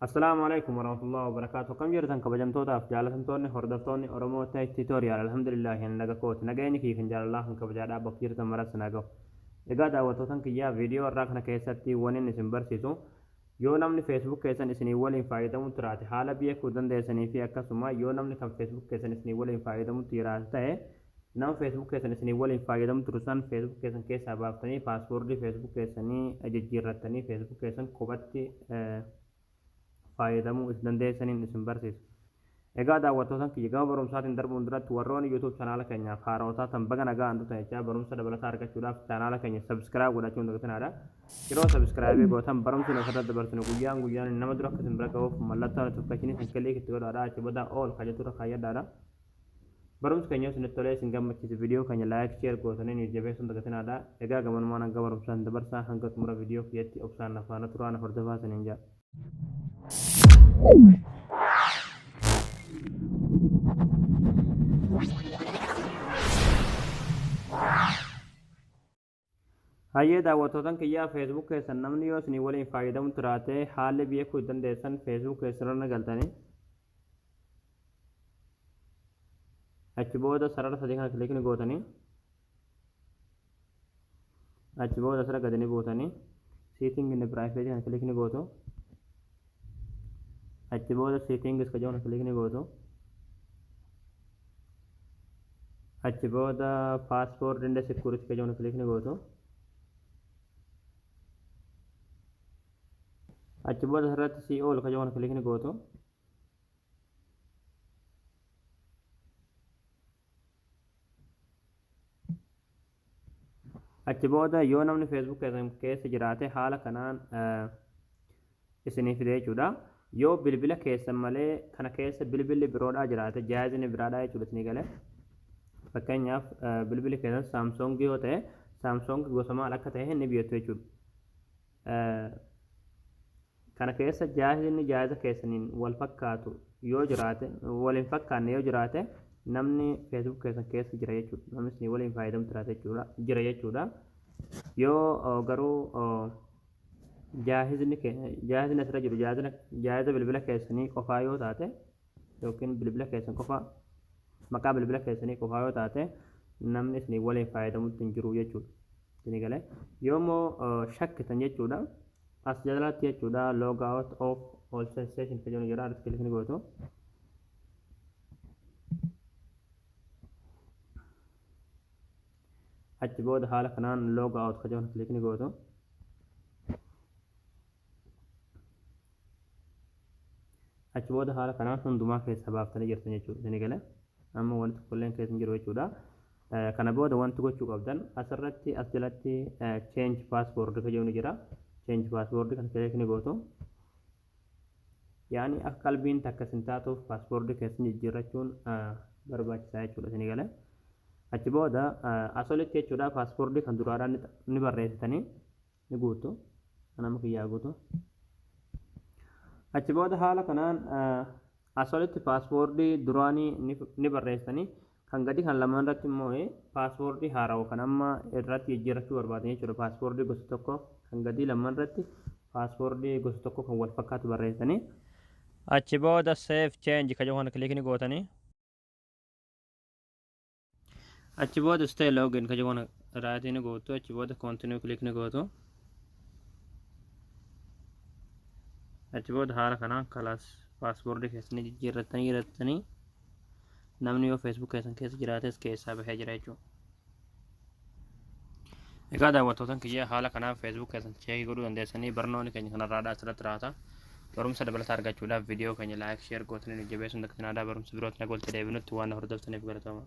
Assalaamu alaikum warahmatullahi wabarakatuh akkam jirtan kabajamtootaaf jaalatamtoonni hordoftoonni Oromoo Tech Tutorial alhamdulillahi ani naga kooti nagayni kiyya kan jaalalaa kan kabajaadhaa bakka jirtan maras sin haa gahu egaa daawwattootan kiyyaa viidiyoo irraa kana keessatti wanin isin barsiisu yoo namni Facebook keessan isinii waliin faayadamu tiraate haala beekuu dandeessanii fi akkasuma yoo namni kan Facebook keessan isinii waliin faayadamu tiraate ta'e Nama Facebook keessan isinii waliin faayyadamu turu san Facebook keessan keessaa baaftanii password Facebook keessanii jijjiirrattanii Facebook keessan kophatti faayyadamuu isin dandeessaniin isin barsiisa. Egaa daawwattootan kiyya gama barumsaatiin darbuun duratti warroonni YouTube chanaala keenyaaf haarawa taatan baga nagaan dhuftan jechaa barumsa dabalataa argachuudhaaf chanaala keenya subscribe godhachuun dagatinaadha. Yeroo subscribe gootan barumsi nu asirratti dabarsinu guyyaan guyyaan nama dura akka isin bira gahuuf mallattoon notification kan click itti godhaadha achi booda all kan jettu irra kaayyadhaadha. Barumsi keenya yoo isinitti tolee isin gammachiise video keenya like share gootanii nuuf jabeessuun dagatinaa dha. Egaa gamanumaan hanga barumsaatti dabarsaa hanga xumura video kiyyatti obsaan na faana turaa na hordofaa isiniin jedha. Hayyee daawwattootan kiyyaa Facebook keessan namni yoo isinii waliin faayyadamu tiraate haalli beekuu itti dandeessan Facebook keessanirra ni galtani. Achi booda sarara sadii kana kilik ni gootani. Achi booda asirra gadi ni buutani. Seetingi inni piraayiveetii kana kilik ni gootu. Achi booda settings ka jedhu kana click ni gootu. Achi booda password and security ka jedhu kana click ni gootu. Achi booda asirratti see all ka jedhu kana click ni gootu. Achi booda yoo namni Facebook keessan keessa jiraate haala kanaan isinii fide jechuudha. Yoo bilbila keessan malee kana keessa bilbilli biroodhaa jiraate jaayizni biraadhaa jechuudha isinii gale. Fakkeenyaaf bilbilli keessan Samsung yoo ta'e Samsung gosa maal akka ta'e ni beektu jechuudha. kana keessa jaahizni jaahiza keessaniin wal fakkaatu yoo jiraate wal hin fakkaanne yoo jiraate namni feesbuuk keessan keessa jira jechuudha namni isin waliin fayyadamu jiraate jechuudha jira jechuudha yoo oo, garuu oo, jaahizni ke- jaahizni asirra jiru jaahizna- jaahiza bilbila keessanii qofaa yoo taate yookiin bilbila keessan qofa maqaa bilbila keessanii qofaa yoo taate namni isinii waliin fayyadamutti hin jiru jechuudha. Isinii galee yoo immoo shakkitan jechuudha as jalatti jechuudha log out of all sensation kan jedhu jira riskilif ni gootu. Achi booda haala kanaan log out kan jedhu kilik ni gootu. Achi booda haala kanaan hundumaa keessaa baaftanii jirtan jechuudha. Isinii gale amma wanti tokkolleen keessa hin jiru jechuudha. Kana booda wanti gochuu qabdan asirratti as jalatti change password kan jedhu ni jira. Change password kan kileek ni gootu. Yaani akka qalbiin takka isin taatuuf password keessan jijjiirrachuun barbaachisaa jechuudha. Isinii gale. Achi booda as olitti jechuudha password kan duraadhaan ni barreessitanii. ni guuttu nama kiyyaa guutu achi booda haala kanaan asolitti paaswoordii duraanii ni barreessanii kan gadi kan lamaan irratti immoo paaswoordii haarawa kan amma irratti jijjiirrachuu barbaadanii jechuudha paaswoordii gosa tokko kan gadii lamaan irratti paaswoordii gosa tokko kan wal fakkaatu barreessanii achi booda seef cheenji kan jedhu kana kiliikni gootanii achi booda stay login ka jiru raayitii ni gootu achi booda continue click ni gootu achi booda haala kanaan kalaas paaspoortii keessan ni jijjiirrattanii jirattanii namni yoo feesbuuk keessan keessa jiraates keessaa bahee jira jechuudha Egaa daawwattootan kiyya haala kanaan Facebook keessan cheekii godhuu dandeessanii barnoonni keenya kanarraadhaa asirratti raata. Barumsa dabalataa argachuudhaaf viidiyoo keenya laayik sheer gootanii nu jabeessuun daktinaadaa barumsa birootti nagoolti deebinutti waan na hordoftaniif galatooma.